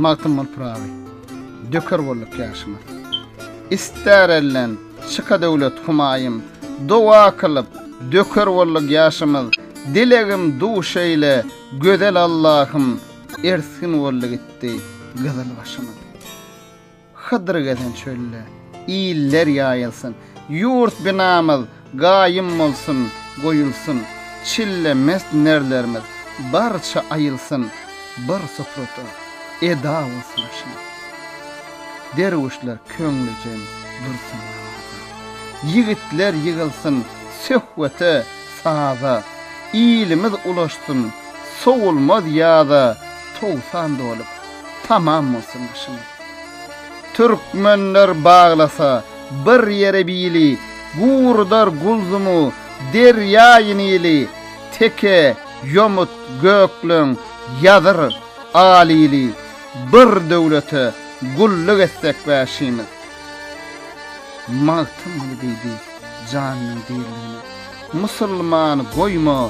Magtymguly Pyragy, Döker bolduk ýaşymyz. Ister elden, çyka döwlet humaýym, Doga kylyp, döker bolduk ýaşymyz. Dilegim duş eýle, gözel Allahym, Ersgin boldy gitdi gyzyl başymyz. Hydyr gezen çölde, iller ýaýylsyn. Ýurt binamyz gaýym bolsun, goýulsyn. Çille mest nerlerimiz barça aýylsyn. Bir suprada eda bolsun aşam. Derwüşler köňlüjeň dursun namaza. Ýigitler ýygylsyn söhbete, saza. Ilimiz ulaşsyn sowulmaz ýaza, towsan dolup. Tamam bolsun başyňyz. Türkmenler baglasa bir ýere bili Gurudar Gulzumu derýaýy Nili Teke, Ýomut, Gökleň, Ýazyr, Alili Bir döwlete gulluk etsek bäşimiz. Magtymguly diýdi janynyň diriligine, Musulman goýma